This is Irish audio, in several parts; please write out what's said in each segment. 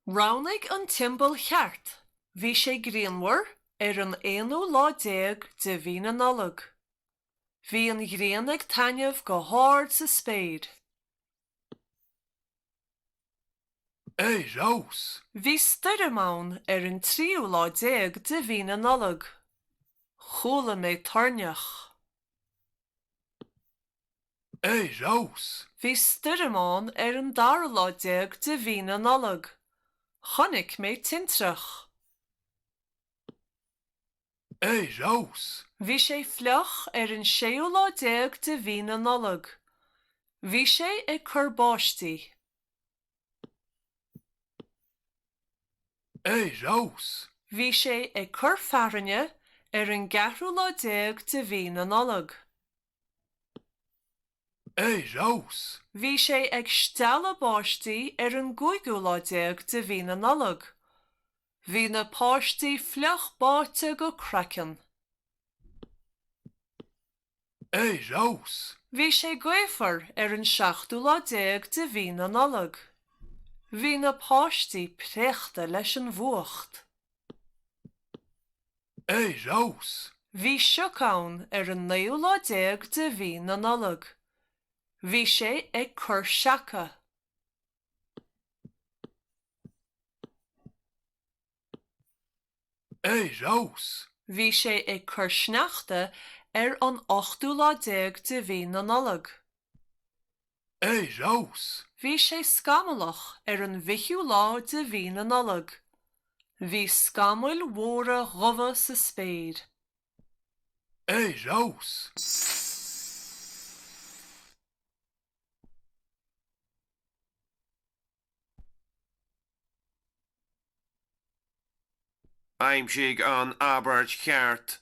Roghnaigh an tsiombail cheart. Bhí sé grianmhar ar an aonú lá déag de mhí na Nollag. Bhí an ghrian ag taitneamh go hard sa spéir. Ar fheabhas! Bhí stoirm ann ar an tríú lá déag de mhí na Nollag. Chuala mé toirneach. Ar fheabhas! Bhí stoirm ann ar an dara lá déag de mhí na Nollag. Chonaic mé tintreach. ar fheabhas. Bhí sé fliuch ar an séú lá déag de mhí na Nollag. Bhí sé ag cur báistí. ar fheabhas. Bhí sé ag cur fearthainne ar an gceathrú lá déag de mhí na Nollag. ar fheabhas. Bhí sé ag stealladh báistí ar an gcúigiú lá déag de mhí na Nollag. Bhí na páistí fliuch báite go craiceann. Ar fheabhas! Bhí sé gaofar ar an seachtú lá déag de mhí na Nollag. Bhí na páistí préachta leis an bhfuacht. Ar fheabhas! Bhí sioc ann ar an naoú lá déag de mhí na Nollag. Bhí sé ag cur seaca. Ar fheabhas! Bhí sé ag cur sneachta ar an ochtú lá déag de mhí na Nollag. Ar fheabhas! Bhí sé scamallach ar an bhfichiú lá de mhí na Nollag. Bhí scamaill mhóra dhubha sa spéir. Ar fheabhas! Aimsigh an abairt cheart.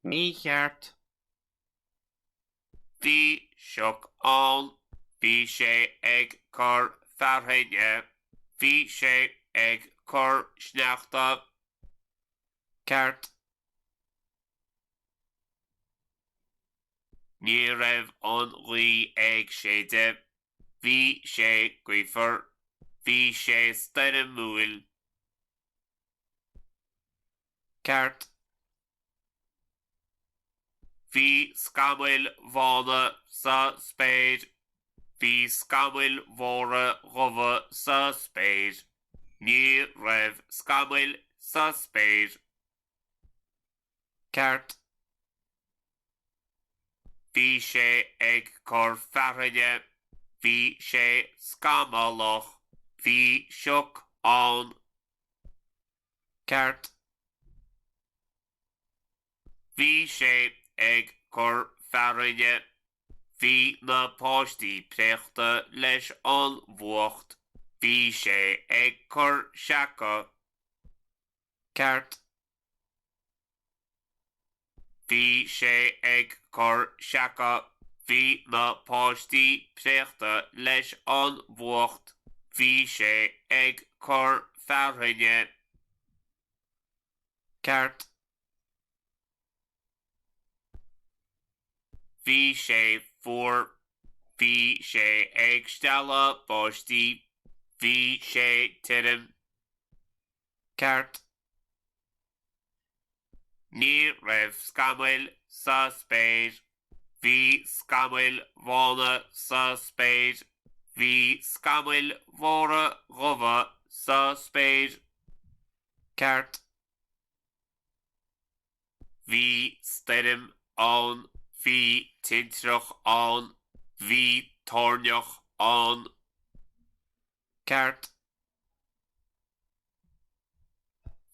mícheart. Bhí sioc ann. Bhí sé ag cur fearthainne. Bhí sé ag cur sneachta. ceart. Ní raibh an ghaoth ag séideadh, bhí sé gaofar, bhí sé stoirmiúil, ceart. Bhí scamaill bhána sa spéir. Bhí scamaill mhóra dhubha sa spéir. Ní raibh scamaill sa spéir. Ceart. Bhí sé ag cur fearthainne. Bhí sé scamallach. Bhí sioc ann. Ceart. Bhí sé ag cur fearthainne. Bhí na páistí préachta leis an bhfuacht. Bhí sé ag cur seaca. Ceart. Bhí sé ag cur seaca. Bhí na páistí préachta leis an bhfuacht. Bhí sé ag cur fearthainne. ceart. Bhí sé fuar. Bhí sé ag stealladh báistí. Bhí sé tirim. Ceart. Ní raibh scamaill sa spéir. Bhí scamaill bhána sa spéir. Bhí scamaill mhóra dhubha sa spéir. Ceart. Bhí stoirm ann, bhí tintreach ann, bhí toirneach ann. Ceart.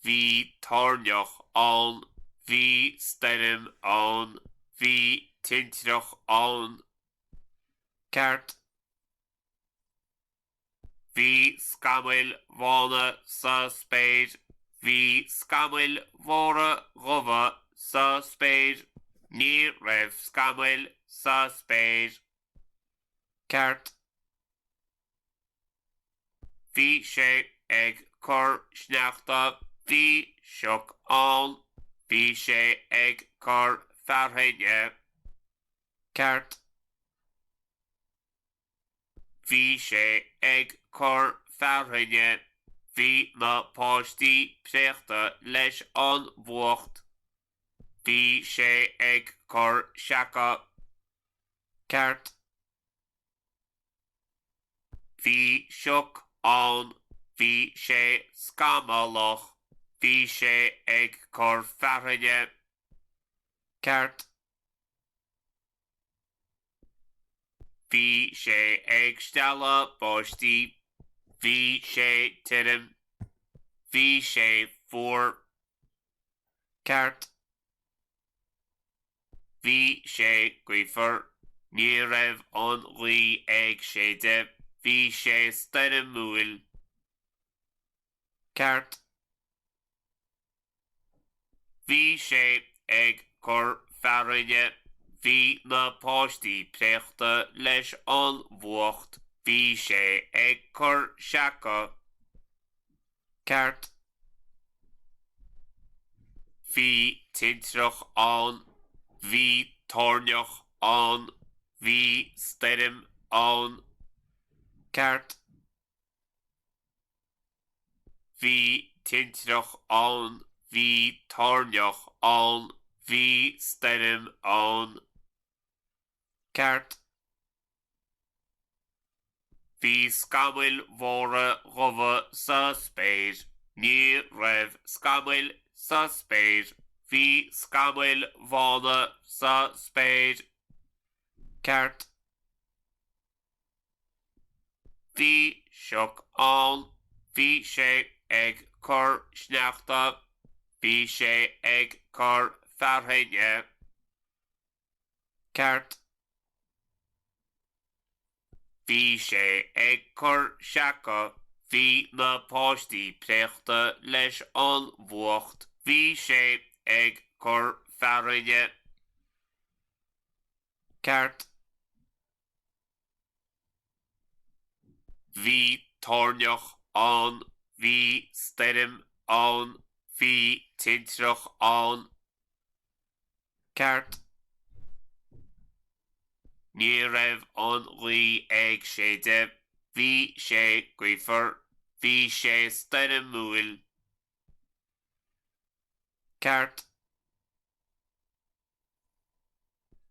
Bhí toirneach ann, bhí stoirm ann, bhí tintreach ann. Ceart. Bhí scamaill bhána sa spéir. Bhí scamaill mhóra dhubha sa spéir. Ní raibh scamaill sa spéir. Ceart. Bhí sé ag cur sneachta. Bhí sioc ann. Bhí sé ag cur fearthainne. Ceart. Bhí sé ag cur fearthainne. Bhí na páistí préachta leis an bhfuacht. Bhí sé ag cur seaca. Ceart. Bhí sioc ann. Bhí sé scamallach. Bhí sé ag cur fearthainne. Ceart. Bhí sé ag stealladh báistí. Bhí sé tirim. Bhí sé fuar. Ceart. Bhí sé gaofar. Ní raibh an ghaoth ag séideadh. Bhí sé stoirmiúil. ceart. Bhí sé ag cur fearthainne, bhí na páistí préachta leis an bhfuacht, bhí sé ag cur seaca. Ceart. Bhí tintreach ann, bhí toirneach ann, bhí stoirm ann. Ceart. Bhí tintreach ann, bhí toirneach ann, bhí stoirm ann. Ceart. Bhí scamaill mhóra dhubha sa spéir. Ní raibh scamaill sa spéir. Bhí scamaill bhána sa spéir. Ceart. Bhí sioc ann, bhí sé ag cur sneachta, bhí sé ag cur fearthainne. Ceart. Bhí sé ag cur seaca, bhí na páistí préachta leis an bhfuacht, bhí sé ag cur fearthainne. Ceart. Bhí toirneach ann, bhí stoirm ann, bhí tintreach ann. Ceart. Ní raibh an ghaoth ag séideadh, bhí sé gaofar, bhí sé stoirmiúil. Ceart.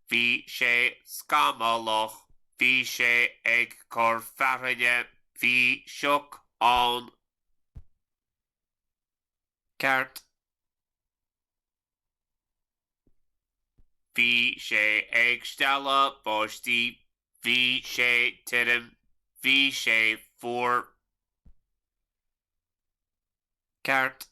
Bhí sé scamallach, bhí sé ag cur fearthainne, bhí sioc ann. Ceart. Bhí sé ag stealladh báistí, bhí sé tirim, bhí sé fuar. Ceart.